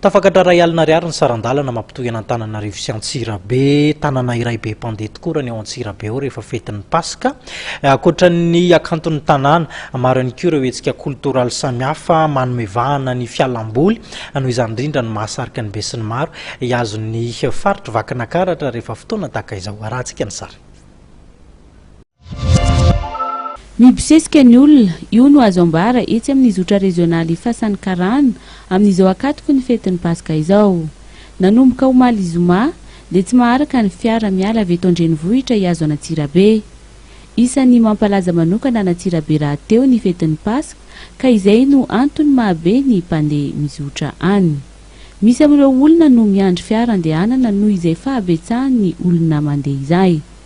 Tafakatra iray alina ariary ny saran-dalana mampitohy an'Antananarivo sy Antsirabe. Tanana iray be mpandeha tokoa raha ny ao Antsirabe ao rehefa fetin'ny Paska. Ankoatra ny hakanton'ny tanàna, maro ihany koa ireo hetsika koltoraly samihafa manome vahana ny fialamboly. Noho izany indrindra no mahasarika ny besinimaro hihazo ny faritr'i Vakinakaratra rehefa fotoana tahaka izao. Arahantsika ny sary. Mibosesika ny olona, io no azo ambara etsy amin'ny zotra rezionaly Ifasan'ny Karana amin'izao ankatoky ny fetin'ny Paska izao. Nanomboka omaly zoma dia tsy maharaka ny fiara miala avy eto an-drenivohitra hihazo an'Antsirabe. Isan'ny mampalaza manokana an'Antsirabe rahateo ny fetin'ny Paska ka izay no antony mahabe ny mpandeha mizotra any. Misy amin'ireo olona no miandry fiara andehanana noho izay fahabetsahan'ny olona mandeha izay.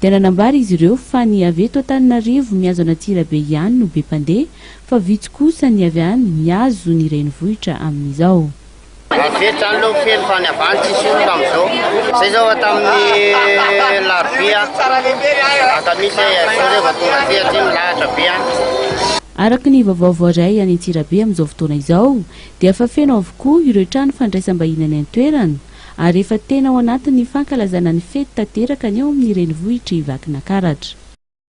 Dia nanambara izy ireo fa ny avy eto Antananarivo mihazo an'Antsirabe ihany no be mpandeha fa vitsy kosa ny avy any mihazo ny renivohitra amin'izao. Avy eto izany aloha feno fa any avy any tsisy olona amin'izao. Izay izao fa tamin'ny alarobia vata misy izay, izao izay vao tonga aty satria milahatra be any. Araka ny vaovao voaray any Antsirabe amin'izao fotoana izao dia efa feno avokoa ireo trano fandraisam-bahiny any an-toerana, ary efa tena ao anatin'ny fankalazana ny fety tanteraka ny ao amin'ny renivohitry Vakinakaratra.